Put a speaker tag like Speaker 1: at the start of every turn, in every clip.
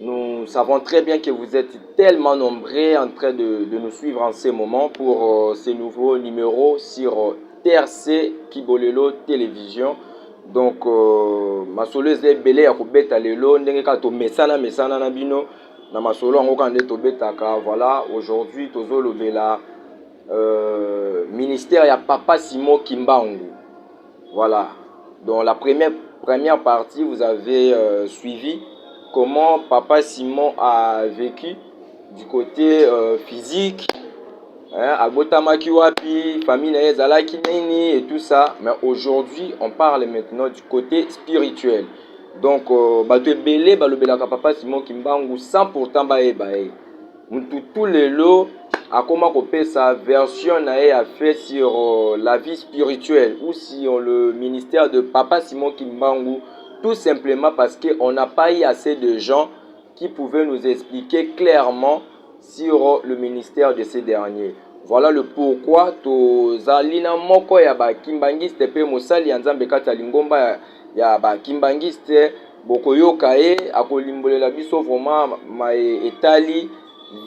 Speaker 1: Nous savons très bien que vous êtes tellement nombreux en train de, de nous suivre en ce moment pour euh, ce nouveau numéro sur euh, TRC Kibolelo Télévision. Donc, euh, masolo eza ebele ya kobeta lelo ndenge kaka tomesana mesana na bino na masolo yango kaka nde tobetaka voilà aujourd'hui tozolobela euh, ministère ya papa simon kimbangu Voilà donc la première première partie vous avez euh, suivi comment papa Simon a vécu du côté euh, physique hein, abotamaki wapi famille na ye ezalaki nini et tout ça mais aujourd'hui on parle maintenant du côté spirituel donc euh, bato ebele balobelaka papa Simon Kimbangu sans pourtant bayeba ye Mututu lelo akoma kopesa version na ye ya fait sur euh, la vie spirituelle ou sur le ministère de Papa Simon Kimbangu tout simplement parce que on n'a pas eu assez de gens qui pouvaient nous expliquer clairement sur euh, le ministère de ces derniers. Voilà le pourquoi tozali na moko ya ba kimbanguiste pe mosali ya Nzambe kati ya lingomba ya, ya ba kimbanguiste bokoyoka ye akolimbolela biso vraiment maye etali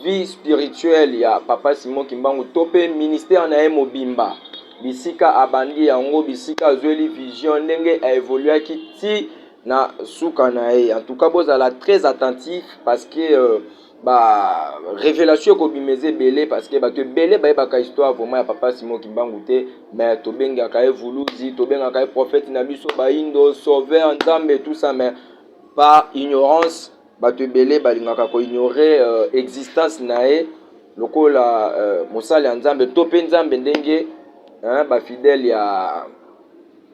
Speaker 1: vie spirituelle ya papa Simon Kimbangu to pe ministère na ye mobimba bisika abandi yango bisika azweli vision ndenge a evoluaki ti na suka na ye en tout cas bozala très attentif parce que euh, ba revelation ekobima eza ebele parceke bato ebele bayebaka histoire vraiment ya papa simon kimbangu te mais tobengaka ye vuluzi tobengaka ye prophète na biso baindo sauveur nzambe tout ça mais par ignorance bato ebele balingaka koignore euh, existence na ye lokola euh, mosali ya nzambe to mpe nzambe ndenge hein, bafidèle ya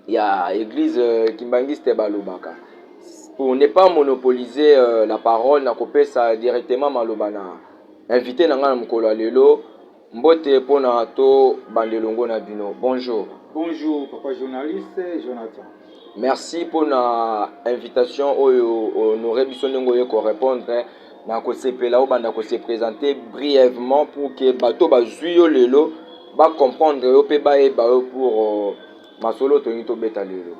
Speaker 1: ya eglise kimbanguiste balobaka pour ne pas monopoliser euh, la parole na kopesa directement maloba na invité na ngai na mokolo ya lelo mbote mpo na to bande elongo na bino bonjour bonjour papa
Speaker 2: journaliste jonathan merci mpo
Speaker 1: na invitation oyo honore biso ndenge oye korépondre na kosepela obanda kose présente brièvement pour ke bato bazwi yo lelo bacomprendre yo mpe bayeba yo pour euh, Masolo tolingi tobeta lelo.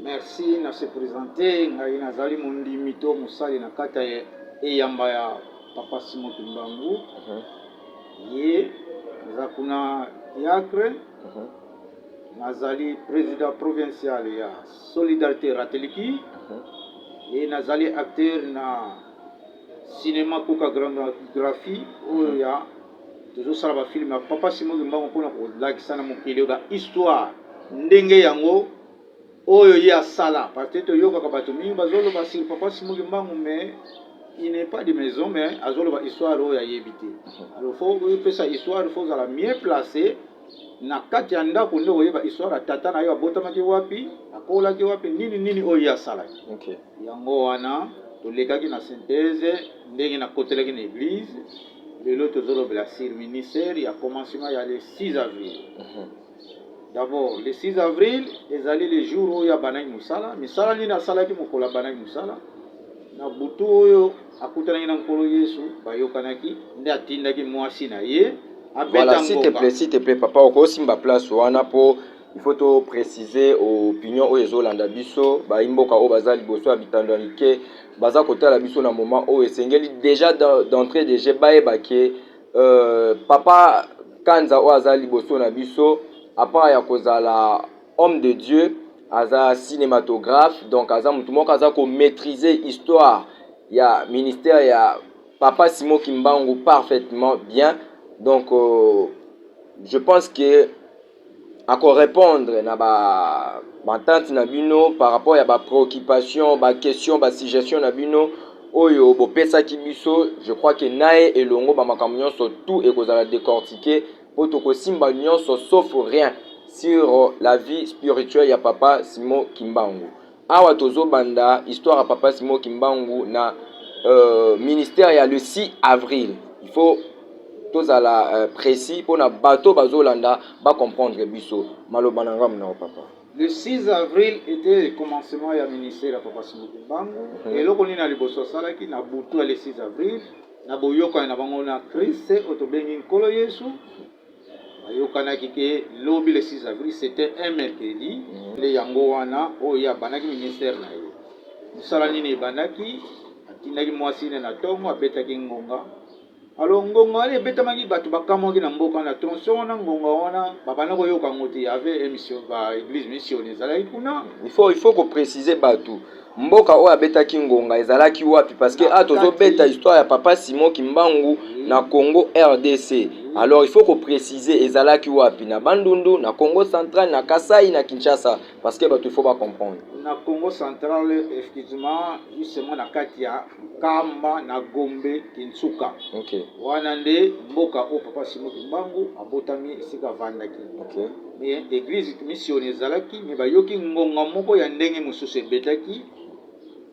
Speaker 1: Merci
Speaker 2: na se presenter ngai nazali mondimi to mosali na kati ya eyamba ya papa Simon Kimbangu ye naza kuna diacre nazali president provincial ya solidarité rateliki ye nazali acteur na Cinema Coca Grande Graphie oyo ya tozosala ba film ya Papa Simon Kimbangu mpo na kolakisa na mokili ba histoire ndenge yango oyo ye asala parce que toyokaka bato mingi bazoloba sur Papa Simon Kimbangu mais il n'est pas de maison mais azoloba histoire oyo ayebi te alors faut oyopesa histoire faut ozala mieux place Na kati ya ndako nde okoyeba histoire ya tata na yo abotamaki wapi, akolaki wapi, nini nini oyo ye asalaki. Okay. Yango
Speaker 1: wana
Speaker 2: tolekaki na synthèse ndenge nakotelaki na eglise. Lelo tozolobela sur ministère ya commencement ya le 6 avril. Mm -hmm. D'abord, le 6 avril ezali le jour oyo abandaki mosala. Misala nini asalaki mokolo abandaki mosala? Na butu oyo Akutanaki na Nkolo Yesu, bayokanaki, nde atindaki mwasi na ye abeta voilà, si te
Speaker 1: plaît, si te plaît, papa okosimba place wana po il faut to préciser opinion oyo ezolanda biso bayi mboka oyo baza liboso ya bitando ya mike baza kotala biso na moment oyo esengeli déjà d'entrée de jeu bayeba ke euh, papa kanza oyo aza liboso na biso apart ya kozala Homme de Dieu aza cinematographe donc aza mutu moko aza ko maitriser histoire ya ministère ya Papa Simon Kimbangu parfaitement bien donc euh, je pense que ako répondre na ba bantante na bino par rapport ya ba préoccupation ba question ba suggestion na bino oyo bopesaki biso je crois que naye elongo ba makambo nyonso tout ekozala décortiquer Po toko simba nionso sauf rien sur la vie spirituelle ya papa Simon Kimbangu. Awa tozo banda histoire ya papa Simon Kimbangu na ministère ya le 6 avril. Il faut tozala precis pona bato bazo landa ba comprendre biso. Maloba na nga munoko papa. Le 6
Speaker 2: avril etait le commencement ya ministère ya papa Simon Kimbangu. Eloko nini ya liboso asalaki na butu ya le 6 avril? Na boyokani na bango na Christ, oyo tobengi Nkolo Yesu, bayokanaki ke lobi le 6 avril, c'etait un mercredi. Nde yango wana, oyo ye abandaki ministère na ye. Mosala nini ebandaki? Atindaki mwasi ne na tongo, abetaki ngonga. Alors ngonga wana ebetamaki, bato bakamwaki na mboka, na tronçon wana, ngonga wana babanda koyoka yango te. Il y avait un mission, ba eglise missione ezalaki kuna. Il faut, il faut ko
Speaker 1: preciser bato. Mboka oyo abetaki ngonga ezalaki wapi parce que a tozo beta histoire ya papa Simon Kimbangu na Congo RDC. Alors il faut ko preciser ezalaki wapi na Bandundu, na Congo central, na Kasai, na Kinshasa parce que bato il faut ba comprendre. Na Congo
Speaker 2: central effectivement justement na kati ya Nkamba na Gombe Kinsuka. Okay. Wana
Speaker 1: nde
Speaker 2: mboka oyo Papa Simon Kimbangu abotami esika avandaki. Okay. Me
Speaker 1: eglise
Speaker 2: mission ezalaki me bayoki ngonga moko ya ndenge mosusu ebetaki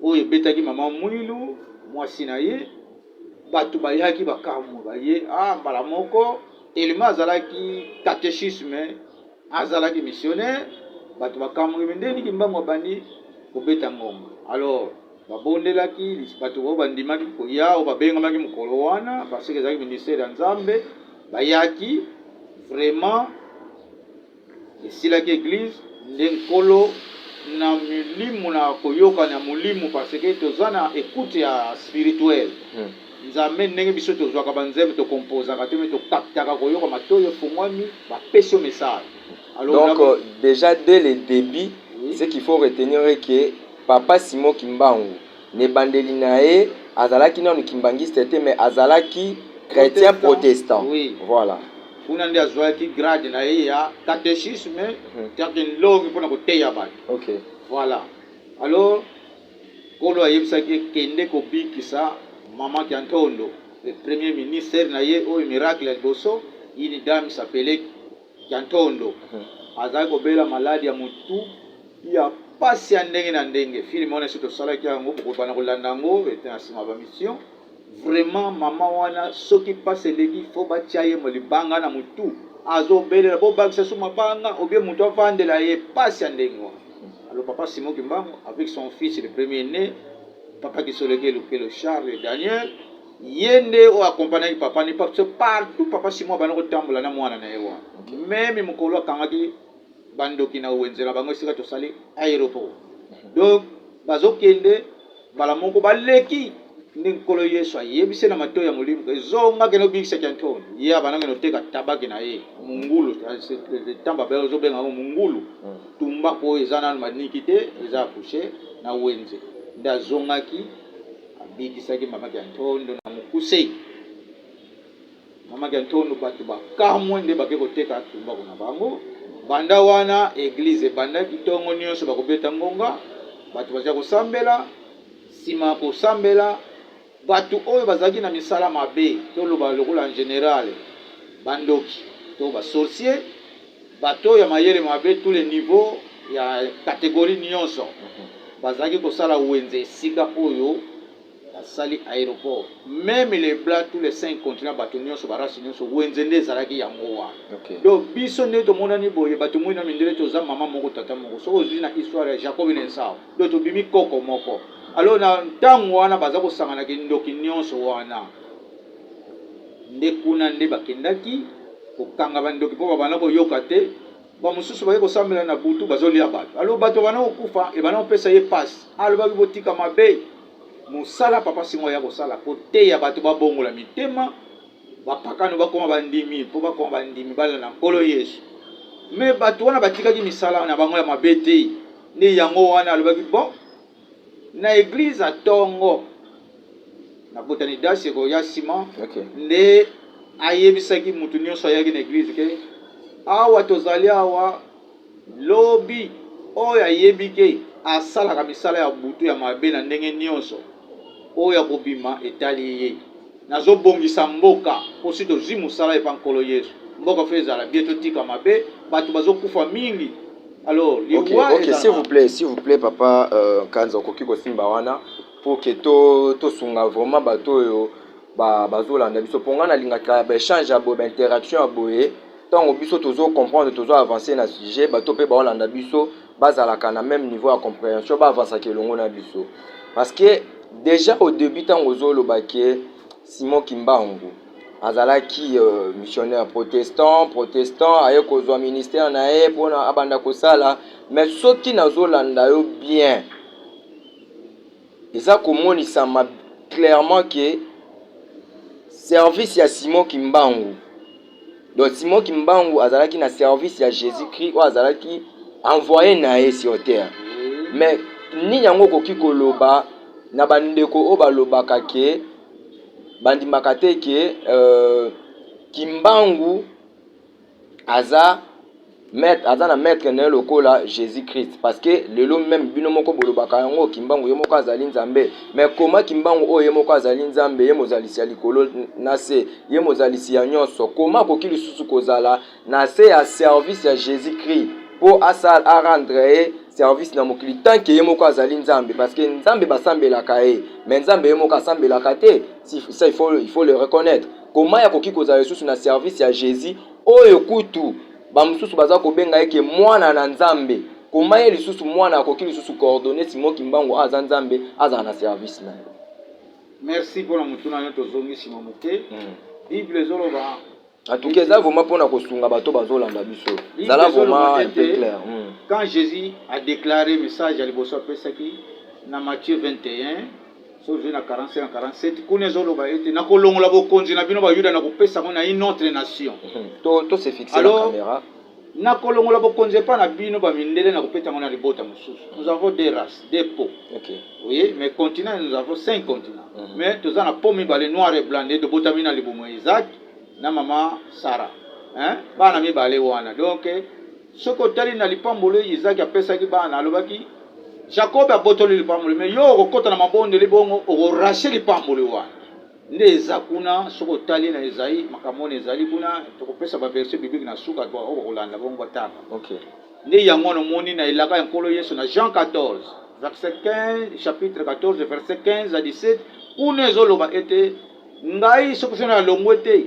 Speaker 2: oyo ebetaki mama Mwilu mwasi na ye bato bayaki bakamwe baye ah, mbala moko telema azalaki katechisme azalaki missionnaire bato bakamwe nde niki mbango abandi kobeta ngonga alors Babondelaki bato oyo bandimaki koya, oyo babengamaki mokolo wana, parce que ezalaki ministère ya Nzambe. Bayaki vraiment, esilaki eglise nde nkolo na milimo na koyokana ya molimo, parce que toza na écoute ya spirituel hmm. Nzambe ndenge biso tozwaka banzembo tokompozaka te, mais tokaptaka koyoka matoyi efungwami, bapesi yo message. Alors, donc, euh,
Speaker 1: déjà dès le début, oui. ce qu'il faut retenir est que Papa Simon kimbangu na ebandeli naye azalaki nanu kimbanguiste te mais azalaki chretien protestant voila.
Speaker 2: Kuna
Speaker 1: nde azuaki
Speaker 2: grade na ye ya catechisme cest une longue pona koteya batu voila alors nkolo ayebisaki ye kende kobikisa maman kiantondo le premier minister na ye oyo miracle ya liboso une dame s'appelait Diantondo azalaki kobela maladi ya motu ya pasi ya ndenge na ndenge. Film wana esi tosalaki yango, bokobana kolanda yango ete na sima ba mission. Vraiment maman wana soki pasi eleki faut batia ye libanga na motu azobelela bobakisa su mabanga obie motu avandela ye pasi ya ndenge wana. Alors papa Simon Kimbangu avec son fils le premier né, papa Kisoleke Lukelo Charles Daniel ye nde oyo accompagnaki papa ne parce que partout papa simo abanda kotambola na mwana na ye wana meme mokolo akangaki bandoki na wenze na bango esika tosali aéroport donc bazokende mbala moko baleki nde nkolo yesu ayebise na matoi ya molimo ezonga kende obikisa kiantoni ye abanda kende oteka tabaki na ye mungulu tamba be ozobenga yango mungulu hmm. tumbaku oyo eza nano maniki te eza akushe na wenze nde azongaki Abikisaki mama Kiantondo na mokuse. Mama Kiantondo bato bakamwe nde bake koteka tumbaku na bango. Banda wana eglize ebandaki tongo nyonso bakobeta ngonga, bato baza kosambela. Nsima ya kosambela, bato oyo bazalaki na misala mabe, toloba lokola en general bandoki to ba sorciers, Bato ya mayele mabe, tous les niveaux, ya categorie nionso, bazalaki kosala wenze esika oyo basali aeroport. Meme les blancs, tous les cinq continents, bato nionso, ba races nionso, wenze nde ezalaki yango wana. Donc biso nde tomonani boye, bato moyi na mindele, toza mama moko, tata moko. Soki ozui na histoire ya Jacob na Esau, donc tobimi koko moko. Alors na tango wana baza kosangana kindoki nionso wana. nde kuna nde bakendaki kokanga ba ndoki po babanda koyoka te ba mususu baye kosambela na butu bazolia batu alo batu babanda kokufa ebanda kopesa ye pasi alobaki botika mabe mosala papa singo aya kosala koteya batu babongola mitema bapakano bakoma bandimi po bakoma bandimi balanda nkolo yesu me batu wana batikaki misala na bango ya mabe te nde yango wana alobaki bon na eglise ya tongo na botani dasi ekoya nsima okay. nde ayebisaki moto nyonso ayaki na eglise ke awa tozali awa lobi oyo ayebi ke asalaka misala ya butu ya mabe na ndenge nyonso oyo akobima etali ye Nazo bongisa mboka po si tozui musala epa nkolo yesu mboka faut ezala bien totika mabe batu bazo kufa mingi alors liwa okay, okay. ezala s'il vous
Speaker 1: plaît s'il vous plaît papa euh, kanza okoki kosimba wana pour que to tosunga vraiment bato oyo bazolanda biso mpo ngai nalingaka baechange ya boye bainteraction ya boye ntango biso tozo comprendre tozo avancer na sujet bato mpe baolanda biso bazalaka na meme niveau ya comprehension ba avansaka elongo na biso parce que déjà au début ntango ozoloba ke simon kimbangu azalaki euh, missionnaire protestant protestant aye kozwa ministère na ye mpona abanda kosala mais soki nazolanda yo bien eza komonisama clairement ke service ya simon kimbangu Donc Simon Kimbangu azalaki na service ya Jésus-Christ oyo azalaki envoyé na ye sur terre. Mais nini yango okoki koloba na bandeko oyo balobaka ke bandimaka te ke euh, Kimbangu aza Maitre aza na maitre naye lokola Jesus Christ parce que lelo meme bino moko bolobaka yango kimbangu ye moko azali nzambe mais koma kimbangu oyo ye moko azali nzambe ye mozalisi ya likolo na se ye mozalisi ya nyonso koma akoki lisusu kozala na se ya service ya Jesus Christ mpo asal arendre ye service na mokili tant que ye moko azali nzambe parce que nzambe basambelaka ye mais nzambe ye moko asambelaka te ça il faut, il faut le reconnaître koma akoki kozala lisusu na service ya Jesus Oyo kutu bamosusu baza kobenga ye ke mwana na nzambe koma ye lisusu mwana akoki lisusu coordonne Simon kimbangu aza nzambe azala na service na yo. Merci
Speaker 2: pona motuna nayo tozongi sima moke hmm. Bible ezoloba en tout cas eza
Speaker 1: vraiment pona kosunga bato bazolanda biso zala vraiment un peu clair hmm. quand Jésus
Speaker 2: a déclaré message ya liboso apesaki na Matthieu 21 Soki ozwi na 45 na 47 kuna ezoloba ete nakolongola bokonzi na bino bayuda na kopesa yango na une autre nation to to se fixe
Speaker 1: na camera nakolongola
Speaker 2: bokonzi epai na bino bamindele na kopeta yango na libota mosusu nous avons des races des peaux okay. oui
Speaker 1: mais continent
Speaker 2: nous avons cinq continents mm -hmm. mais toza na peau mibale noir et blanc nde tobotami na libumu ya isaac na mama sara bana mibale wana donc Soki otali na lipamboli oyo Izaki apesaki bana, alobaki Jakobe abotoli lipamboli, me yo okokota na mabondeli bongo okorashe lipamboli wana. Nde eza kuna, soki otali na Ezai, makambo wana ezali kuna, tokopesa baverse biblike na suka, oyo bakolanda bongo batanga. Okay. Nde
Speaker 1: yango wana
Speaker 2: omoni na elaka ya Nkolo Yesu na Jean 14 verset 15, chapitre 14 verset 15 à 17, kuna ezoloba ete Ngai soki soki nalongwe te,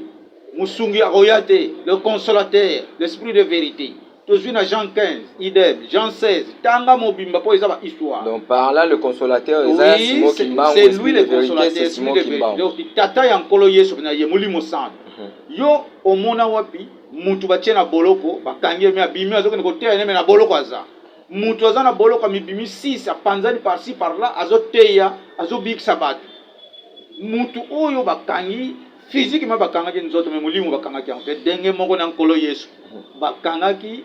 Speaker 2: mosungi akoya te, le consolateur, l'esprit de verite. Tozwi na Jean 15, idem, Jean 16, tanga mobimba mpo eza ba histoire. Donc par là le
Speaker 1: consolateur eza ya Simon Kimbangu,
Speaker 2: c'est lui le consolateur, c'est Simon Kimbangu. Donc tata ya Nkolo Yesu na ye Molimo Santu. Mhm. Yo omona wapi mutu batie na boloko, bakangi ye me abimi azokende koteya ne me na boloko aza mutu aza na boloko amibimi 6 apanzani par ci par là azoteya azobikisa bato Mutu oyo bakangi physiquement bakangaki nzoto mais molimo bakangaki yango te denge moko na nkolo yesu bakangaki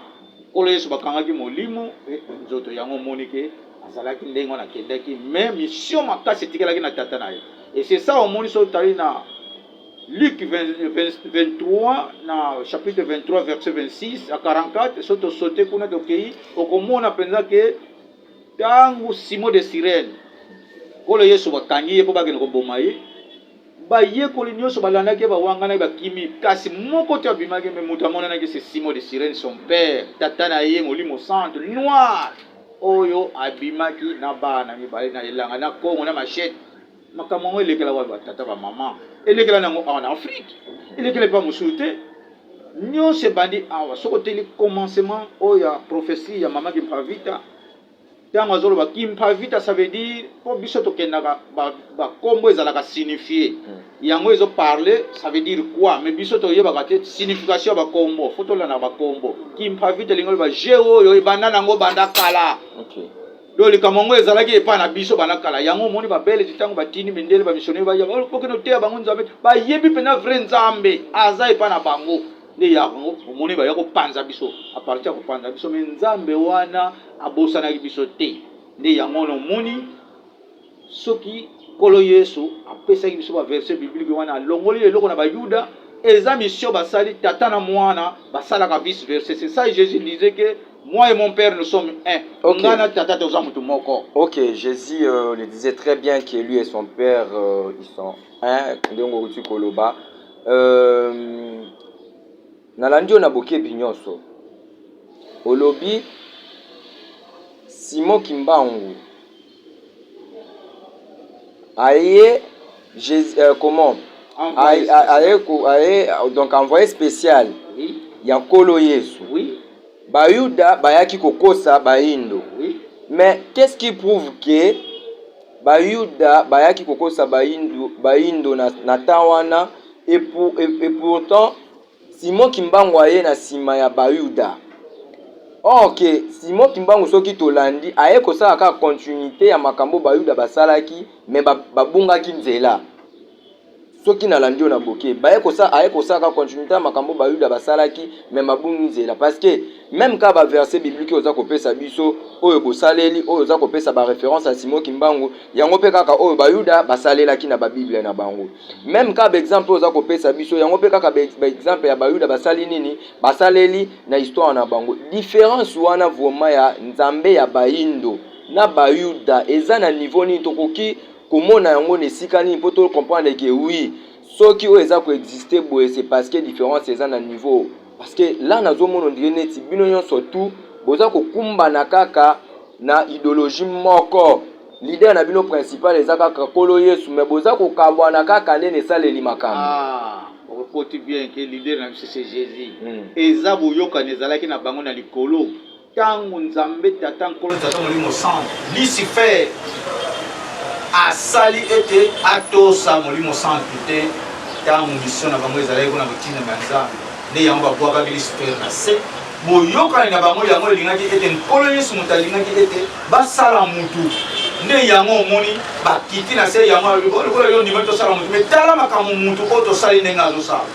Speaker 2: nkolo yesu bakangaki molimo pe nzoto yango omoni ke azalaki ndenge wana akendaki mais mission makasi etikalaki na tata na ye et c'est ça omoni so otali na Luc 20, 20, 23 na chapitre 23 verset 26 à 44 so tosote kuna tokei okomona mpenza ke Tangu Simon de Cyrène, Nkolo Yesu bakangi ye po bakende koboma ye, bayekoli nionso balandaki ye, bawanganaki, bakimi, kasi moko te abimaki, mais mutu amonanaki se Simon de Cyrène, son père, tata na ye, Molimo Santu, noir, oyo abimaki na bana mibale, na elanga, na kongo, na machette. makambo yango elekela wapi batata bamama elekela na yango awa na afrike elekela epa mosusu te nyonso ebandi awa soki oteli commencement oyo ya prophesie ya mama kimpavita ntango azoloba kimpavita ça veut dire mpo biso tokendaka bakombo ba ezalaka signifie hmm. yango ezo parle ça veut dire quoi mais biso toyebaka te signification ya bakombo fo tolandaka bakombo kimpavita elingi oloba je oyo ebanda na yango banda kala okay. donc
Speaker 1: likambo yango
Speaker 2: ezalaki epai na biso bana kala yango omoni babelge ntango batindi mindele bamisionere baya bokende oteya bango nzambe bayebi mpenza vrai nzambe aza epai na bango nde yango omoni baya kopanza biso aparti ya kopanza biso me nzambe wana abosanaki biso te nde yango wana omoni Soki Nkolo Yesu apesaki biso ba verset biblique wana alongoli eloko na ba yuda eza mission basali tata na muana basalaka vice verse c'est ça Jesus disait que moi et mon père nous sommes un okay. nga na tata toza
Speaker 1: mutu moko
Speaker 2: ok Jesus euh,
Speaker 1: le disait très bien que lui et son père euh, ils sont un ndenge okuti koloba euh, nalandi yo na bokebi nyonso olobi Simon Kimbangu aye Jesus, euh, comment aye, aye, aye donc envoyé spécial oui. ya
Speaker 2: nkolo yesu
Speaker 1: oui.
Speaker 2: bayuda
Speaker 1: bayaki kokosa bayindo oui. mais
Speaker 2: qu'est ce qui
Speaker 1: prouve que bayuda bayaki kokosa bayindo, bayindo na, na temps wana et, pour, et, et pourtant Simon Kimbangu aye na sima ya Bayuda. Or que Simon Kimbangu soki tolandi aye kosala kaka continuite ya makambo Bayuda basalaki mais ba, babungaki nzela. Soki nalandi yo na boke, baye kosala aye kosala kaka continuite ya makambo Bayuda basalaki mais babungi nzela parce que meme kaka ba verset biblique oza kopesa biso oyo bosaleli oyo oza kopesa ba reference ya Simon Kimbangu yango pe kaka oyo Bayuda basalelaki na ba Bible na bango. meme kaka baexemple oyo oza kopesa biso yango mpe kaka baexemple ya bayuda basali nini basaleli na histoire na bango difference wana vraimen ya nzambe ya baindo na bayuda eza na niveau nini tokoki komona yango na esika nini mpo tocomprendre ke wi soki oyo eza koexiste boye se parceke difference eza na niveau Parce que là nazomona on dirait neti bino nyonso tout boza kokumbana kaka na ideologie moko leader na bino principal eza kaka kolo yesu me boza kokabwana kaka nde na esaleli makambo ah, okoti bien
Speaker 2: ke leader na biso se jesus hmm. eza boyokani ezalaki na bango na likolo Tango Nzambe Tata, Nkolo, Tata, Molimo Santu, Lucifer, asali ete atosa Molimo Santu te, tango mission na bango ezalaki kuna kotindama ya Nzambe, nde yango babwakaki Lucifer na se. Boyokani na bango yango elingaki ete Nkolo Yesu moto alingaki ete basala mutu, nde yango omoni bakiti na se yango lokola yo ndimaki tosala mutu, me tala makambo mutu oyo tosali ndenge azosala.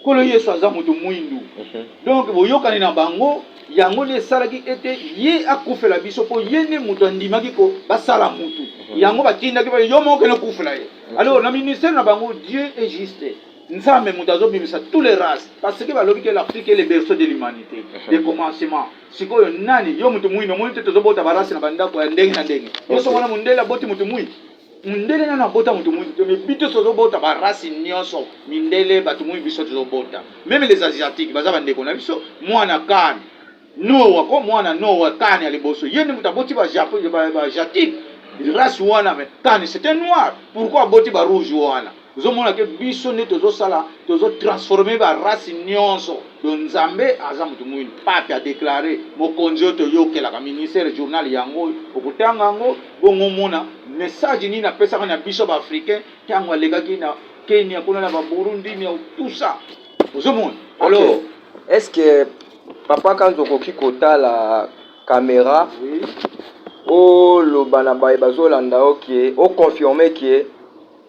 Speaker 2: Nkolo Yesu aza moto mwindu, donc boyokani na bango yango nde esalaki ete ye akufela biso, mpo ye nde moto andimaki ko basala moto yango batindaki ba yo moko kende okufela ye. Alors na ministère na bango Dieu est juste Nzambe moto azobimisa tous les races parce que balobi ke l'Afrique est le berceau de l'humanité de commencement. Sikoyo nani yo moto mwindu omoni te tozobota ba race na bandako ya ndenge na ndenge, yo soki omona mondele aboti moto mwindu Mundele nanu abota mutu muibi te mais bitos tozo bota ba race nioso mindele batu muibi biso tozo bota meme les asiatique baza ba ndeko na biso muana kan nowa ko muana nowa kan ya liboso ye nde mutu aboti ba japo ba jatique race wana mais kan c'est un noir pourquoi aboti ba rouge wana Ozo mona ke biso nde tozo sala tozo transformer ba race nionso donc nzambe aza mutu muindu pape a declare mokonzi oyo toyokelaka ministere journal yango oyo okotanga yango bongo omona message nini apesaka na biso ba africain tango alekaki na kenya kuna na ba burundi na tout ça ozo mona alors okay. est ce que
Speaker 1: papa kanzo okoki kotala kamera oui. oloba na baye bazolanda yo ke oconfirme ke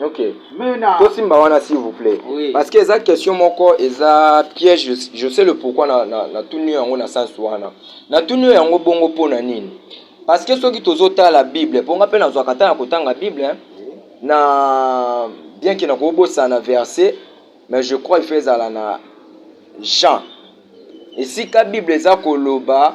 Speaker 2: Okay. Mena.
Speaker 1: tosimba
Speaker 2: wana s'il vous plaît
Speaker 1: oui. parce que eza question moko eza piège je, je sais le pourquoi na, na, na tuni yango na sens wana na tuni yango bongo mpo na nini parce que soki tozotala bible mpo nga mpe nazwaka ntango ya kotanga bible hein? na bien ke nakobosana verset mais je crois ifa ezala na jean esika bible eza koloba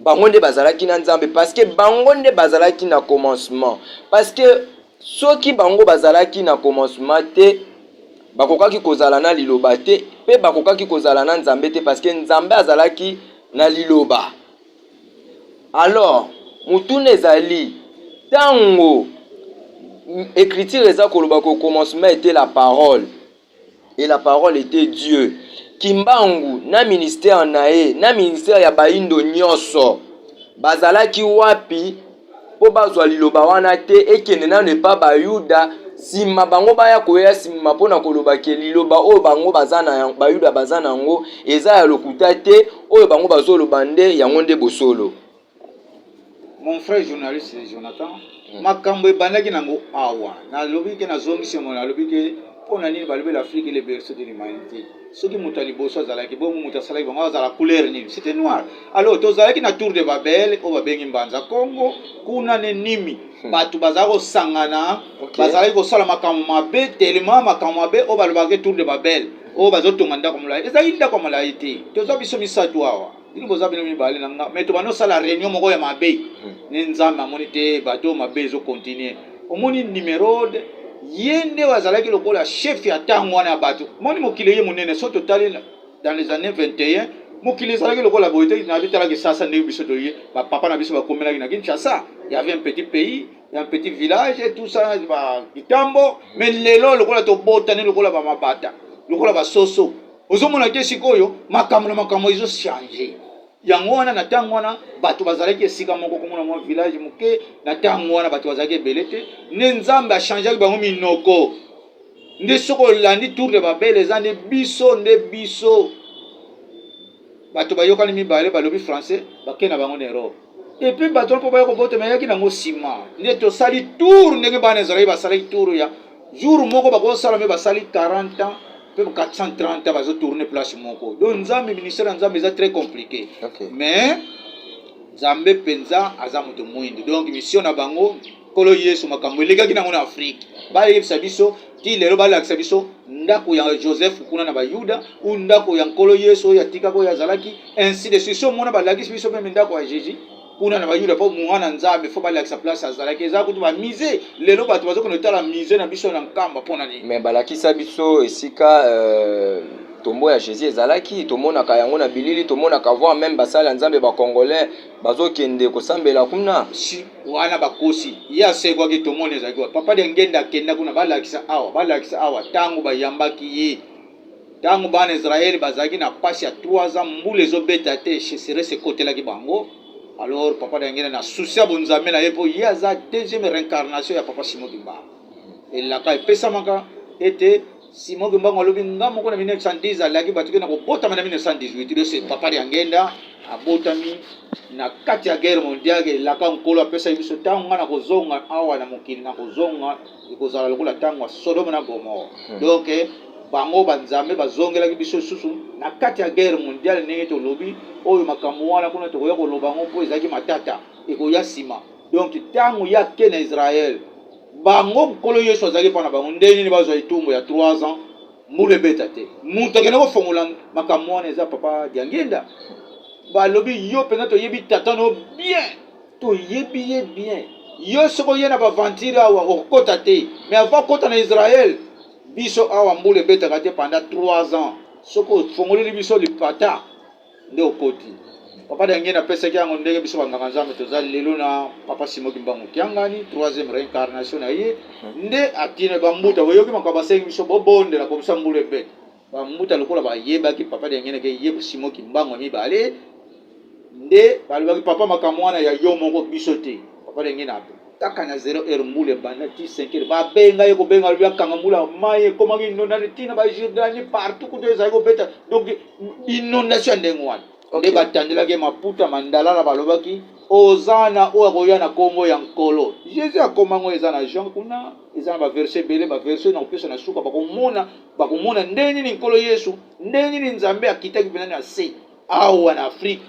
Speaker 1: bango nde bazalaki na nzambe parceke bango nde bazalaki na commencement parceke soki bango bazalaki na commencement te bakokaki kozala na liloba te mpe bakokaki kozala na nzambe te parceke nzambe azalaki na liloba alors motuna ezali ntango ecriture eza koloba ko commencement ete la parole et la parole etait Dieu. Kimbangu na ministère na ye na ministère ya bayindo nyonso bazalaki wapi mpo bazwa liloba wana te ekende nano epa bayuda nsima bango baya koya nsima mpo na koloba ke liloba oyo bango baza na yango bayuda baza na yango eza ya lokuta te oyo bango bazoloba nde yango nde bosolo Mon
Speaker 2: frère journaliste Jonathan, mm. makambo ebandaki nango awa. Nalobi ke nazongisi yango, nalobi ke mpo na nini balobi l'Afrique le berceau de l'humanité. Soki moto ya liboso azalaki bongo, moto asalaki bango azala couleur nini? C'était noir. Alors tozalaki na Tour de Babel oyo babengi Mbanza Kongo, kuna ne nimi hmm. bato bazalaki kosangana, bazalaki kosala makambo mabe telema makambo mabe oyo balobaki Tour de Babel oyo bazotonga ndako molai. Ezalaki ndako molai te, toza biso misato awa. bino boza bino mibale na nga mais tobanda osala réunion moko ya mabe hmm. ne nzambe amoni te bato mabe ezo continue omoni numerode ye nde azalaki lokola chef ya ntango wana ya bato moni mokili ye monene so totali dans les années 21 mokili ezalaki lokola boye te na bitalaki sasa ndenge biso toye bapapa na biso bakomelaki na kinshasa y avait un petit pays un petit village et tout ça ba kitambo mais lelo lokola tobotani lokola bamabata lokola basoso ozomona te sikoyo makambo na makambo ezo change yango wana na ntango wana bato bazalaki esika moko komona mwa village moke na ntango wana bato bazalaki ebele te nde nzambe achangeaki bango minoko nde soki olandi tour de babele eza nde biso nde biso bato bayokani mibale balobi français bake na bango na europe epuis bato wana mpo baya kobotama eyaki nango nsima nde tosali tour ndenge bana ezalaki basalaki tour ya jour moko bakosala me basali 40 ans pe 430 bazo tourner place moko donc nzambe ministère ya nzambe eza très compliqué okay. mais nzambe mpenza aza moto mwindu donc mission na bango nkolo yesu makambo elekaki nango na afrike bayebisa biso ti lelo balakisa biso ndako ya joseph kuna na bayuda u ndako ya nkolo yesu oyo atikaka oyo azalaki ainsi de suite so mona balakisi biso meme ndako ya jésus kuna na bayuda mpo mwana nzambe fo balakisa place azalaki eza kutu bamise lelo bato bazokende kotala mise na biso na nkamba mpo na nini me balakisa biso
Speaker 1: esika euh, tombo ya jésus ezalaki tomonaka yango na bilili tomonaka voir meme basali ya nzambe bacongolais bazokende kosambela kuna si wana
Speaker 2: bakosi ye asekwaki tomoni ezalaki papa de ngenda akenda kuna balakisa awa balakisa awa ntango bayambaki ye Ntango bana Israël bazalaki na mpasi ya 3 ans, mbula ezo beta te, cheseresse ekotelaki bango. Alors papa Diangenda na souci ya bonzambe na ye mpo ye aza deuxième reincarnation ya papa Simon Kimbangu. Elaka epesamaka ete Simon Kimbangu alobi nga moko na 1910 alaki bato ke na kobotama na 1918 lose papa Diangenda abotami na kati ya guerre mondiale elaka nkolo apesaki biso ntango nga na kozonga awa na mokili na kozonga ekozala lokola ntango ya sodome na gomore hmm. donk eh, bango banzambe bazongelaki biso lisusu na kati ya guerre mondiale ndenge tolobi oyo makambo wana kuna tokoya koloba yango mpo ezalaki matata ekoya nsima donk ntango ya ke na israele bango nkolo yesu azalaki mpo na bango ndenge nini bazwa etumbu ya 3 ans mbula ebeta te moto akende kofongola makambo wana eza papa diangenda balobi yo mpenza toyebi tata no bien Toyebi ye bien. Yo soki oye na ba aventure awa okokota te mais avant okota na Israël biso awa mbula ebetaka te pendant 3 ans soki ofongoleli biso lipata nde okoti. Papa Dangienda apesaki yango ndenge biso ba nganga Nzambe toza lelo na Papa Simon Kimbangu Kiangani troisième reincarnation na ye nde atine ba mbuta boyoki makambo asengi biso bobondela po biso mbula ebeta. Ba mbuta lokola ba yebaki papa diangenda ke ye simon kimbangu ya mibale nde ba lobaki papa makambo wana ya yo moko biso te papa diangenda kaka na zero heure mbula ebanda ti 5 heure ba benga ye ko benga lobi akanga mbula mayi ekomaki inondation ti na ba jordanie partout kutu ezali ko beta donc inondation ya ndenge wana nde ba tandelaki maputa mandala na ba lobaki ozana oyo akoya na kombo ya nkolo jesus akomango eza na jean kuna eza na baverse ebele baverse nakopesa na suka bakomona Bakomona ndenge nini Nkolo Yesu, ndenge nini Nzambe akitaki mpenza na se awa na Afrique.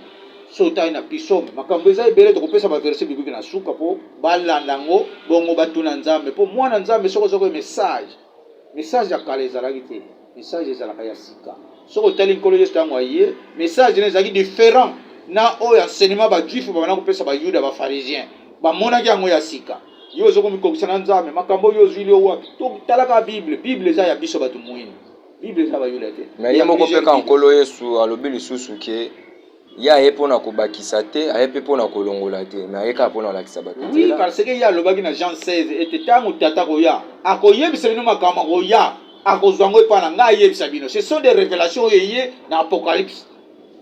Speaker 2: So otali na pisome, makambo eza ebele. Tokopesa baverse bibiki na suka mpo balanda yango, bongo batuna Nzambe. Mpo mwana Nzambe soki azwaki message, message ya kala ezalaki te, message ezalaka ya sika. Soki otali Nkolo Yesu ntango aye, message na ezalaki different na oyo enseignement ba juif babanda kopesa ba yuda ba pharisien bamonaki yango ya sika yo ozo komikokisa na nzambe makambo oyo ozwili yo wapi totalaka bible bible eza ya biso bato moyini bible eza bayuda te me ye moko mpe ka
Speaker 1: nkolo yesu alobi lisusu ke ye aye mpo na kobakisa te aye mpe mpo na kolongola te me aye kaka mpo na kolakisa bato oui parce ke ye alobaki
Speaker 2: na jean 16 ete ntango tata akoya akoyebisa bino makambo akoya akozwa yango epai na ngai ayebisa bino ce sont des révélations oyo eye na apocalypse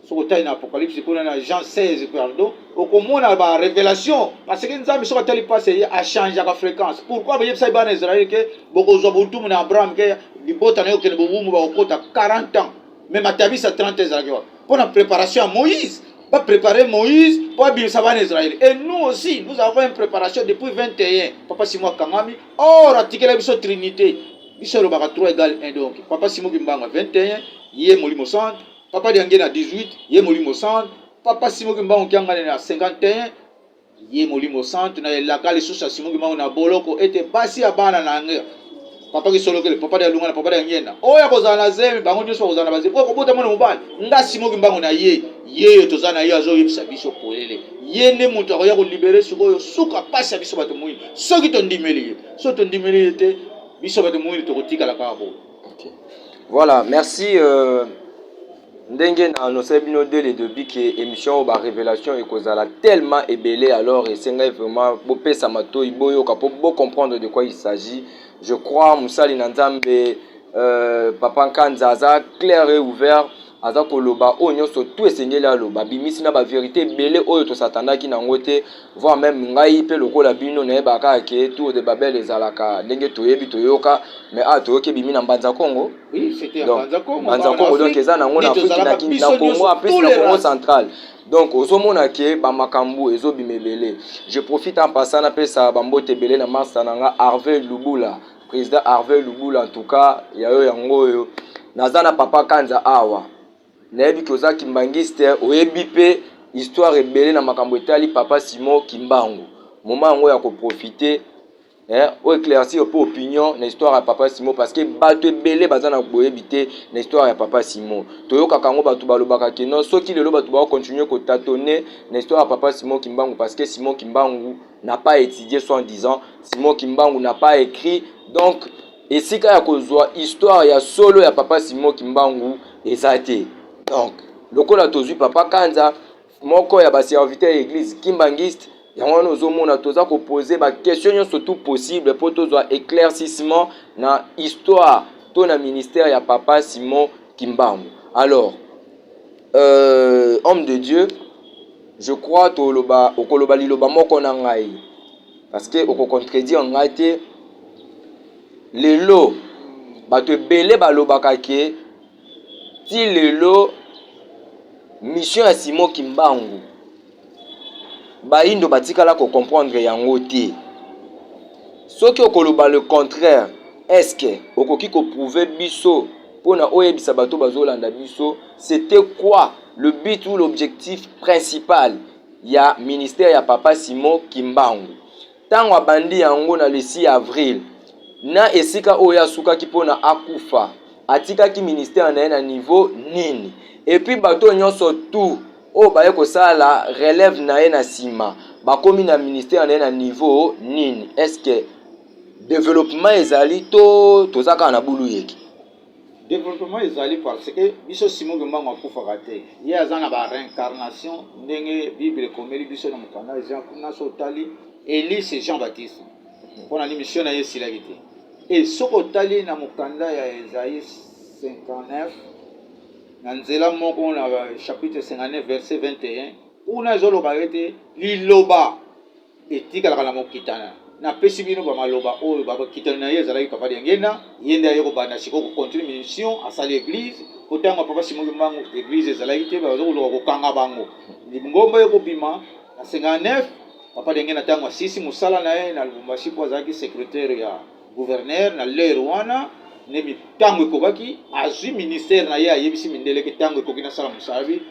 Speaker 2: soki otali na apocalypse kuna na jean 16 pardon okomona ba révélation parce que nzambe soki atali mpasi eye achangeaka fréquence pourquoi bayebisaki bana israele ke bokozwa botumu na abraham ke libota na yo okende bobumu bakokota 40 ans mais matabisa 30 ezalaki wapi mpo na préparation ya moïse baprépare moïse mpo abimisa bana israele et nous aussi nous avons une préparation depuis 21 papa simo akangami or atikela biso trinité biso elobaka 3 égal 1 donc papa simo kimbango 21 ye molimo centre papa diange na 18 ye molimo centre papa simoki mbango kiangani na 51 ye molimo centre na elaka lisusu ya simoki mbango na boloko ete basi ya bana na yango papa kisolokele papa dia lungana papa dia ngenda oyo akozala na zemi bango nyonso bakozala na bazemi oyo kobota mwana mobali nga simoki mbango na ye yeyo toza na ye azoyebisa biso polele ye nde moto akoya kolibere sikoyo suka mpasi ya biso bato moyini soki tondimeli ye soki tondimeli ye te biso bato moyini tokotikala kaka boye Okay.
Speaker 1: Voilà, merci euh, ndenge na annonce bino dès le début que émission ba révélation ekozala tellement ebele alors esengai vraiment bopesa matoi boyoka po bo comprendre de quoi il s'agit. Je crois musali na Nzambe euh, papa Nkanza aza clair et ouvert aza koloba oyo nyonso tu esengeli aloba bimisi na ba verite ebele oyo tosatandaki na yango te voir meme ngai mpe lokola bino nayeba kaka ke tour de babel ezalaka ndenge toyebi toyoka mais awa toyoki ebimi na mbanza congo
Speaker 2: mbanza congo
Speaker 1: donc eza na yango na afriki na kini na congo apesi na congo central donc ozomona ke bamakambo ezobima ebele je profite en passant napesa bambote ebele na masta na nga harvey lubula President Harvey Lubula, en tout cas ya yo yango oyo. Naza na papa Kanza awa, nayebi ke oza kimbangiste, oyebi pe histoire ebele na makambo etali papa Simon Kimbangu. Moment yango ya ko profiter eh, o eclaircir pe opinion na histoire ya papa Simon parce que bato ebele baza na boyebi te na histoire ya papa Simon. Toyokaka yango bato balobaka ke non, soki lelo bato bao continuer ko tatoner na histoire ya papa Simon Kimbangu parce que Simon Kimbangu n'a pas étudié soit en disant Simon Kimbangu n'a pas écrit donc esika ya kozwa histoire ya solo ya papa Simon Kimbangu eza te donc lokola tozwi papa Kanza moko ya ba serviteur ya église kimbanguiste yango wana ozomona toza kopose baquestion nyonso tout possible mpo tozwa éclaircissement na histoire to na ministère ya papa simon kimbangu alors euh, homme de dieu Je crois toloba okoloba liloba moko na ngai parce que oko contredire ngai te lelo bato ebele balobaka ke ti lelo mission ya Simo Kimbangu bayindo batikala ko comprendre yango te soki okoloba le contraire est-ce que okoki ko prouver biso pona oyebisa bato bazolanda biso C'etait quoi le but ou l'objectif principal ya ministère ya Papa Simon Kimbangu? Tango abandi yango na le 6 avril, na esika oyo asukaki mpo na akufa, atikaki ministère na ye na niveau nini? Et puis bato oyo nyonso tout oyo baye kosala relève na ye na nsima, bakomi na ministère na ye na niveau nini? Est-ce que developpement ezali to toza kaka na buluyeke? Developpement
Speaker 2: ezali parce que biso Simon Kimbangu akufaka te. Ye aza na ba reincarnation ndenge Bible ekomeli biso na mokanda Jean kuna so otali Elie c'est Jean Baptiste. Pona ni mission na ye esilaki te. Et soki otali na mokanda ya Esaïe 59 na nzela moko na chapitre 59 verset 21 kuna ezoloba ete liloba etikalaka na mokitana napesi bino ba maloba oyo ba mokitani na ye ezalaki papa diangenda ye nde aye kobanda sikoyo kocontinue mission asali eglise po ntango ya papa simoki mbangu eglise ezalaki te baza koluka kokanga bango lingomba ye kobima na 59 papa diangenda ntango asisi mosala na ye na lubumbashi mpo azalaki secretaire ya gouverneur na lere wana nde ntango ekobaki azwi ministère na ye ayebisi mindele ke ntango ekoki nasala mosala bi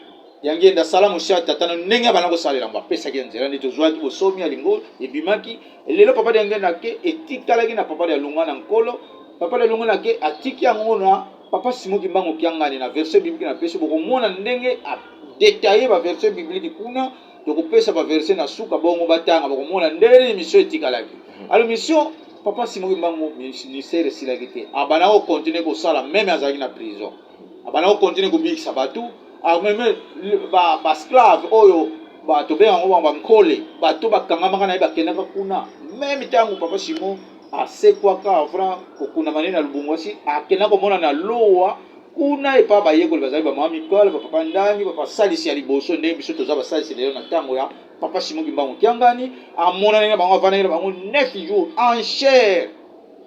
Speaker 2: ya ngenda asala mosala tata na ndenge abanda kosalela yango apesaki ya nzela nde tozwaki bosomi ya lingo ebimaki lelo papa ya ngenda ke etikalaki na papa ya lunga na nkolo papa ya lunga na ke atiki yango na papa simo kimbangu kiangani na verse biblike na pesi bokomona ndenge adetaille baverse biblike kuna tokopesa baverse na suka bongo batanga bokomona ndenge nini misio etikalaki hmm. alo misio papa simo kimbangu ministère esilaki te abanda kokontinue kosala meme azalaki na prison abanda kokontinue kobikisa bato ameme basclave oyo bato be yango bango bankole bato bakangamaka na ye bakendaka kuna meme ntango papa simon asekwaka avant kokunama nini na lubumbashi akenda komona na lowa kuna epa bayekoli bazali bamama mikole bapapa ndangi bapasalisi ya liboso ndenge biso toza basalisi lelo na ntango ya papa simon kimbangu kiangani amonani na bango avandaki na bango 9 jours en chair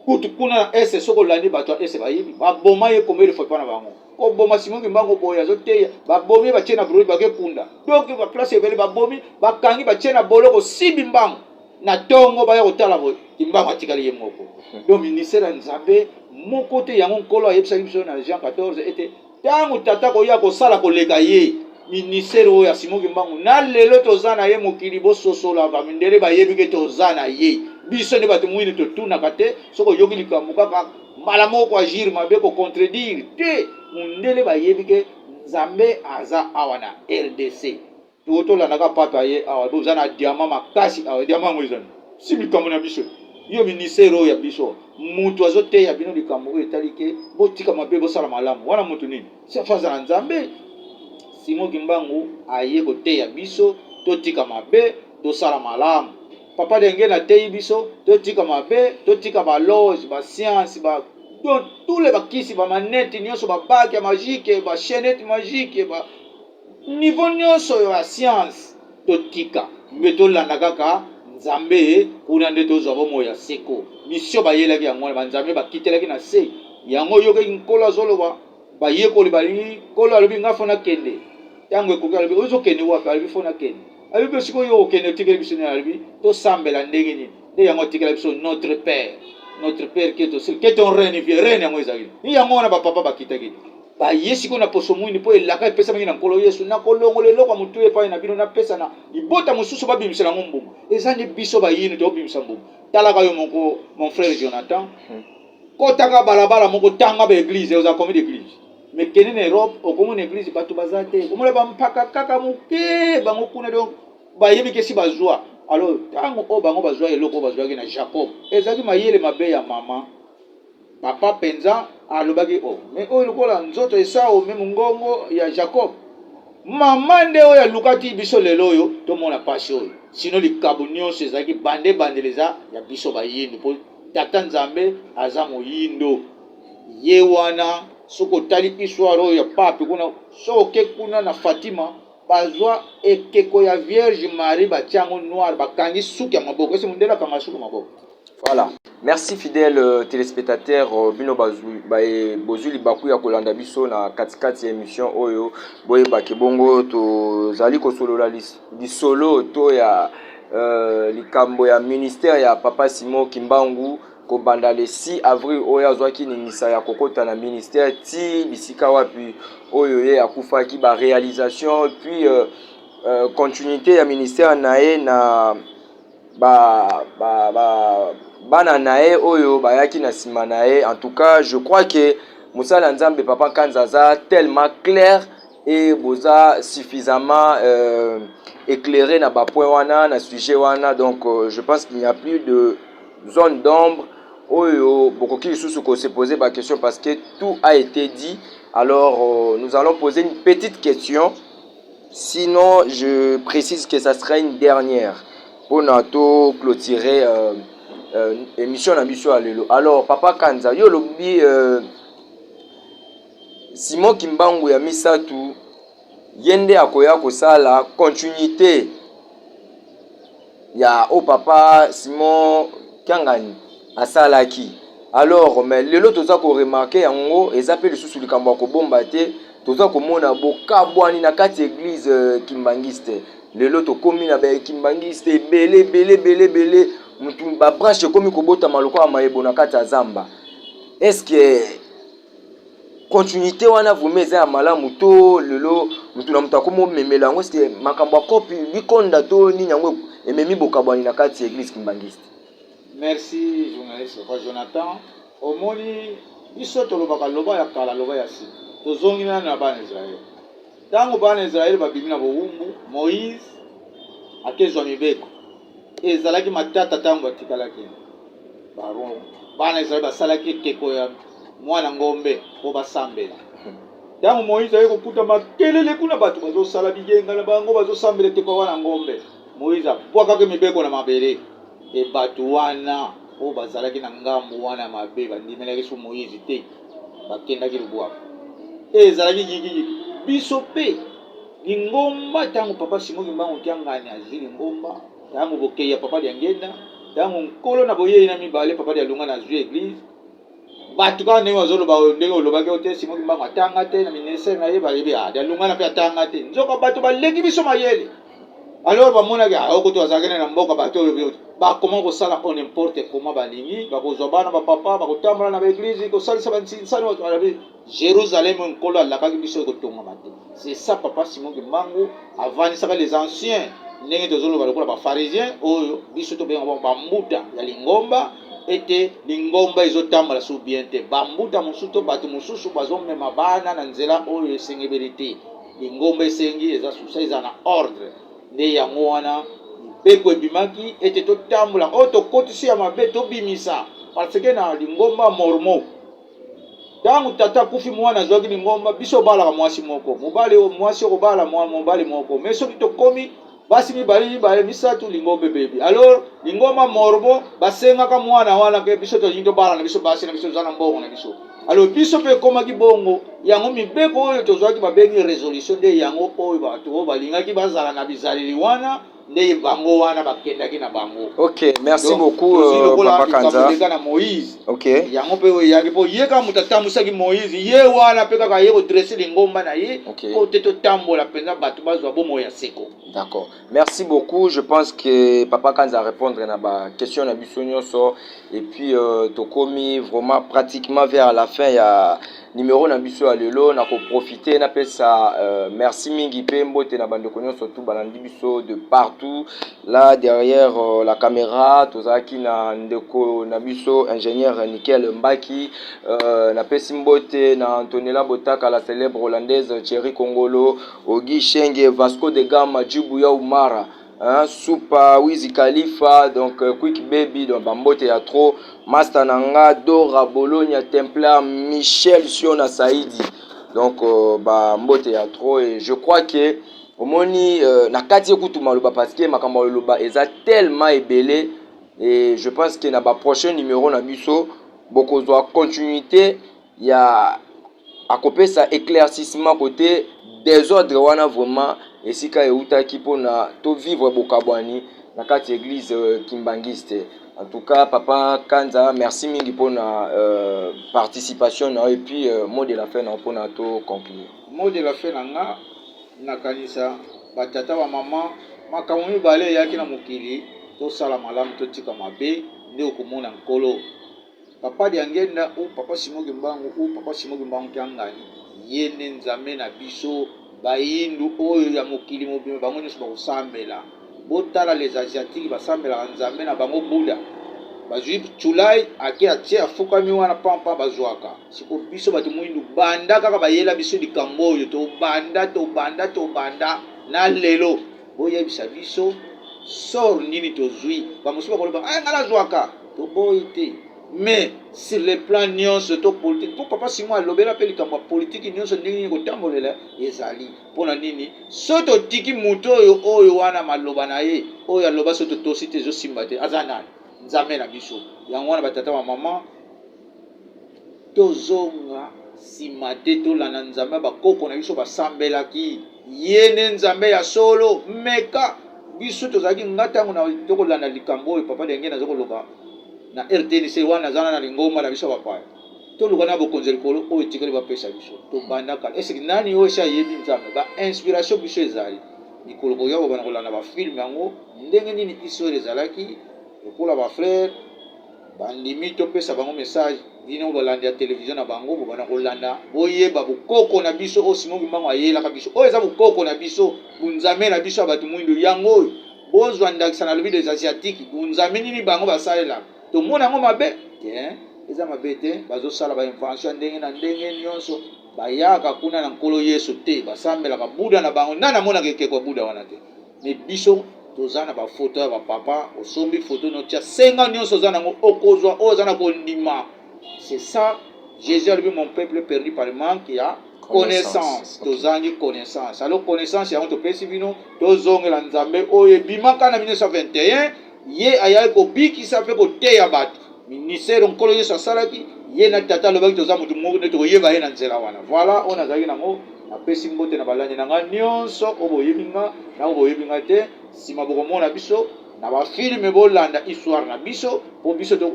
Speaker 2: kutu kuna na ese soki olandi bato ya ese bayebi baboma ye komeli fo epa na bango koboma Simon Kimbangu boye azoteya babomi batie na broi bake kunda donc ba place ebele babomi bakangi batie na boloko sibi mbangu na tongo baya kotala boye Kimbangu atikali ye moko donc ministère ya Nzambe moko te yango nkolo ayebisaki biso na Jean 14 ete ntango tata koya kosala koleka ye ministère oyo ya Simon Kimbangu na lelo toza na ye mokili bososola bamindele bayebi ke toza na ye biso nde bato mwini totunaka te soki oyoki likambo kaka Mbala moko ko agir mabe ko contredire te mundele bayebi ke nzambe aza awa na rdc to tolanda ka pape aye awa boza na diamant makasi awa diamant yango ezali si likambo na biso yo ministère oyo ya biso mutu azo teya bino likambo oyo etali ke botika mabe bosala malamu wana mutu nini si afa aza na nzambe simo kimbangu aye koteya biso totika mabe tosala malamu Papa Dengue na teyi biso to tika mabe, to tika ba loge, ba science, ba donc tous les bakisi ba manette nionso ba bague ya magique, ba chaînette magique, ba niveau nionso ya science to tika. Mais to landa kaka Nzambe kuna nde tozwa bomoi ya seko. Mission bayelaki yango wana ba Nzambe bakitelaki na se. Yango yokaki nkolo azoloba bayekoli balingi nkolo alobi nga fona kende. Tango ekoki alobi ozo kende wapi alobi fona kende. Alobi mpe sikoyo yo okende otikeli biso nini? Alobi tosambela ndenge nini? Nde yango atikela biso notre père notre père keto keto rene vie rene yango ezali ni yango wana bapapa bakitaki te baye sikoyo na poso mwini mpo elaka epesamaki na nkolo yesu na kolongola eloko ya motu epai na bino napesa na libota mosusu babimisela yango mbuma eza nde biso bayini tobimisa mbuma talaka yo moko mon frère jonathan hmm. kotaka balabala moko tanga baeglize oza combien d'église mais kende na europe okomona eglise bato baza te okomona bampaka kaka moke bango kuna donc bayebi kesi bazwa alors ntango oyo bango bazwa eloko oyo bazwaki na jacob ezalaki mayele mabe ya mama papa mpenza alobaki o oh, me oyo lokola nzoto esao me mongongo ya jacob mama nde oyo alukaki biso lelo oyo tomona mpasi oyo sino likabo nyonso ezalaki bande bandela eza ya biso bayindo mpo tata nzambe aza moyindo Ye wana soki otali histoire oyo ya pape kuna, soki oke kuna na Fatima, bazwa ekeko ya Vierge Marie batia yango noir, bakangi suki ya maboko. Esi mondele akanga suki maboko. Voilà.
Speaker 1: Merci fidèle euh, téléspectateur euh, bino bazui baye bozui libaku ya kolanda biso na katikati ya émission oyo boyeba ke bongo tozali kosolola lisolo to ya euh, likambo ya ministère ya Papa Simon Kimbangu Kobanda le 6 avril oyo azwaki ningisa ya kokota na ministère ti bisika wapi oyo ye akufaki ba realisation puis euh, euh, continuité ya ministère na ye na ba, ba, ba bana na ye oyo bayaki na nsima na ye en tout cas je crois que mosala ya nzambe papa nkanza aza tellement claire et boza suffisamment euh, éclairé na ba point wana na sujet wana donc euh, je pense qu'il n'y a plus de zone d'ombre oyo bokoki lisusu ko se poser ba question parce que tout a été dit alors euh, nous allons poser une petite question sinon je précise que ça sera une dernière mpo na to clôturer euh, euh, émission na biso ya lelo alors papa kanza yo olobi euh, simon kimbangu ya misato ye nde akoya kosala continuite ya oyo papa simon kiangani asalaki alors mais lelo toza koremarke yango eza mpe lisusu likambo ya kobomba te toza komona bokabwani na kati ya eglise euh, kimbangiste lelo tokomi na bakimbangiste ebele ebele ebele ebele mutu babranche ekomi kobotama lokola mayebo na kati ya zamba eske Continuite wana vraiment eza ya malamu to lelo moto na moto akomi omemela yango ceke makambo ya cope bikonda to nini yango ememi bokabwani na kati ya eglise kimbangiste. Merci
Speaker 2: journaliste Papa Jonathan. Omoni biso tolobaka loba ya kala loba ya sika. Tozongi nani na bana Israël. Tango bana Israël babimi na bowumbu, Moïse akezwa mibeko. Ezalaki matata tango batikalaki. Baron, bana Israel basalaki ekeko ya mwana ngombe mpo basambela. Ntango Moïse aye kokuta makelele kuna, bato bazosala biyenga na bango, bazosambela ekeko ya mwana ngombe, Moïse abwakaki mibeko na mabele, mpe bato wana oyo bazalaki na ngambo wana ya mabe bandimelaki su Moïse te, bakendaki lubwaku. E, ezalaki yigiyigi. Biso mpe lingomba, ntango Papa Simon Kimbangu Kiangani azwi lingomba, Tangu bokeyi ya papa Diangenda, tangu nkolo na boyeyi na mibale papa Dialunga na zui eglise, batu kaka ndenge bazoloba oyo ndenge olobaki oyo te Simon Kimbangu atanga te na ministère na ye bayebi ah Dialunga na pe atanga te. Nzoka batu baleki biso mayele. Alors bamonaki ah okoto azalaki na mboka batu oyo bakoma kosala on n'importe comment balingi bakozwa bana ba papa bakotambola na ba eglise kosalisa ba nsinsani Jerusalem oyo Nkolo alakaki biso ekotongama te. C'est ça papa Simon Kimbangu avandisaka les anciens ndenge tozoloba lokola ba pharisiens oyo biso tobenga bango bambuta ya lingomba ete lingomba ezotambola sur bien te bambuta mosusu to bato mosusu bazomema bana na nzela oyo esengebeli te lingomba esengi eza susa eza na ordre nde yango wana mibeko ebimaki ete totambola oyo tokotisi ya mabe tobimisa parce que na lingomba mormo ntango tata akufi mwana azwaki lingomba biso obalaka mwasi moko mobali oyo mwasi okobala mwa mobali moko me soki tokomi basi mibale mibale misato lingomba ebebi alors lingomba morbo basengaka mwana wana ke biso tolingi tobala na biso basi na biso toza na mbongo na biso alors biso mpe ekomaki bongo yango mibeko oyo tozwaki babengi resolution nde yango oyo bato oyo balingaki bazala na bizaleli wana nde bango wana bakendaki na bango ok merci
Speaker 1: beaucoup euh, na moïse ok
Speaker 2: yango mpe
Speaker 1: oyo eyaki mpo
Speaker 2: ye kaka moto atambwisaki moïse ye wana mpe kaka ye kodresse lingomba na ye mpo te totambola mpenza bato bazwa bomoi ya seko d'accord merci
Speaker 1: beaucoup je pense que papa kanza arépondre na baquestion na biso nyonso et puis euh, tokomi vraiment pratiquement vers la fin ya Numero na biso ya lelo na ko profiter na pesa euh, merci mingi pe mbote na bandeko nyonso tu balandi biso de partout là derrière euh, la caméra tozalaki na ndeko na biso ingénieur Nickel Mbaki euh, na pesi mbote na Antonella Botaka la célèbre hollandaise Thierry Kongolo Ogi Shenge Vasco de Gama Jubu ya Umara Hein, Supa, Wiz Khalifa, donc euh, Quick Baby, donc bambote ya trop, Masta na nga, Dora, Bologna, Templar, Michel, Siona, Saidi. Donc euh, bambote ya trop et je crois que omoni euh, na kati ekutu maloba parce que makambo ya loba eza tellement ebele et je pense que na ba prochain numéro na biso bokozwa continuité ya akopesa eclaircissement kote desordre wana vraiment esika eutaki mpona to vivre bokabwani na kati eglise euh, kimbanguiste en tout cas papa kanza merci mingi mpona euh, participation na yo et puis euh, mot de la fin na yo mpona to conclure mot de la fin na
Speaker 2: nga nakanisa batata bamama makambo mibale eyaki na mokili tosala malamu totika mabe nde okomona nkolo Papa Diangenda ou Papa Simon Kimbangu ou Papa Simon Kimbangu Kiangani, ye nde Nzambe na biso. Bayindu oyo ya mokili mobimba bango nyonso bakosambela. Botala les asiatiques basambelaka Nzambe na bango Buda. Bazwi Chulai ake atie afukami wana pampa bazwaka. Siko biso bato moyindu banda kaka bayela biso likambo oyo tobanda tobanda tobanda na lelo boyebisa biso sort nini tozwi. Bamosusu bakoloba eh ngai nazwaka. Toboyi te mais sur le plan nyonso to politique mpo papa Simon alobela mpe likambo ya politiki nyonso ndenge nini kotambolela ezali mpo na nini so totiki moto oyo oyo wana maloba na ye oyo aloba so totosi te ezosimba te aza nani nzambe na biso yango wana batata bamama Tozonga sima te tolanda Nzambe ya ba koko na biso basambelaki ye ne Nzambe ya solo meka biso tozalaki nga tango na tokolanda likambo oyo papa denge nazo koloba na rtnc wana naza na lingomba na biso bapaya toluka na bokonzi likolo oyo etikali bapesa biso tobandaka esiki nani oyo esi ayebi nzambe ba inspiration biso ezali mikolo koya kobanda kolanda bafilme yango ndenge nini israel ezalaki lokola bafrere Bandimi to pesa bango message. Bino balandi ya television na bango bobanda kolanda boyeba bokoko na biso oyo Simon Kimbangu ayelaka biso oyo eza bokoko na biso bunzame na biso ya bato muindu yango oyo bozwa ndakisa na lobi des asiatiques bunzame nini bango basalela tomona yango mabe te eza mabe te bazosala ba invention ya ndenge na ndenge nyonso bayaka kuna na nkolo yesu te basambelaka buda na bango nani amonaka ekeko ya buda wana te me biso toza na bafoto ya bapapa osombi foto notia senga nyonso oza nango okozwa oyo oza na kondima c'est ça jésus alobi mon peuple perdu par manque ya connaissance tozangi connaissance alo connaissance yango topesi bino tozongela nzambe oyo ebimaka na 1921 Ye ayaki kobikisa mpe koteya bato. Ministère oyo Nkolo Yesu asalaki, Ye na Tata alobaki toza moto moko nde tokoyeba Ye na nzela wana. Voilà oyo nazalaki na yango. Napesi mbote na balandi na ngai nionso oyo boyebi nga na oyo boyebi nga te. Sima bokomona biso na ba films, bolanda histoire na biso mpo biso to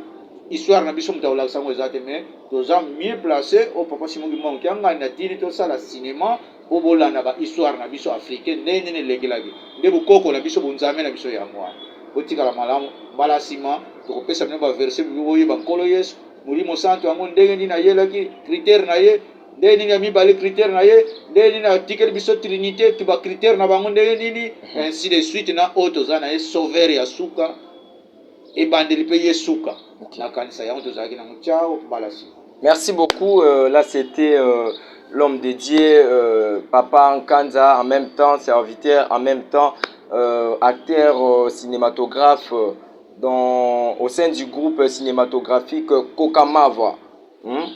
Speaker 2: histoire na biso moto akolakisa yango eza te, mais toza mieux place oyo Papa Simon Kimbangu Kiangani atindi tosala cinema Po bolanda ba histoire na biso africain ndenge nini elekelaki nde bokoko na biso bonzambe na biso yango wana botikala malamu mbala sima tokopesa bino ba verse bibi boyeba nkolo yesu molimo santu yango ndenge nini ayelaki critere na ye ndenge nini ya mibale critere na ye ndenge nini atikeli biso trinite ba critere na bango ndenge nini ainsi de suite na oyo toza na ye sauveur ya suka ebandeli mpe ye suka okay. nakanisa yango tozalaki nango ciao mbala nsima merci beaucoup
Speaker 1: euh, là c'était euh, l'homme de dieu euh, papa nkanza en même temps serviteur en même temps euh, acteur euh, cinématographe euh, dans, au sein du groupe cinématographique kokamava Hum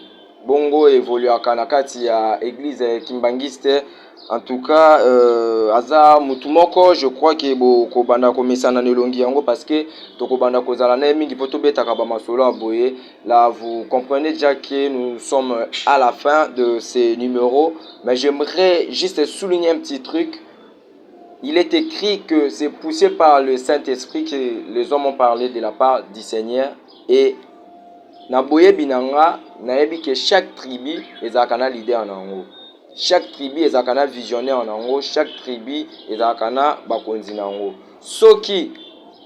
Speaker 1: bongo evoluaka na kati ya eglise kimbanguiste en tout cas euh, aza mutu moko je crois que bokobanda komesana na elongi yango parce que tokobanda kozala na ye mingi mpo tobetaka bamasolo ya boye la vous comprenez déjà que nous sommes à la fin de ces numéros mais j'aimerais juste souligner un petit truc Il est ecrit que c'est pousse par le Saint-Esprit que les hommes ont parlé de la part du Seigneur et na boyebi na nga nayebi que chaque tribu ezalaka na leader na yango chaque tribu ezalaka na visionnaire na yango chaque tribu ezalaka na bakonzi na yango soki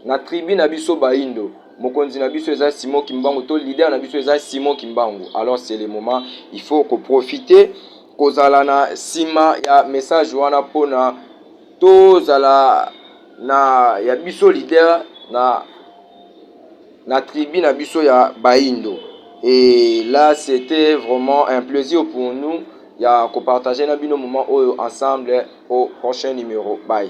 Speaker 1: na tribu na biso baindo mokonzi na biso eza simo kimbangu to leader na biso eza simo kimbangu alors c'est le moment il faut koprofite kozala na sima ya message wana pona tozala na ya biso leader na na tribu na biso ya baindo et là c'était vraiment un plaisir pour nous ya ko partager na bino moment oyo ensemble au prochain numero bye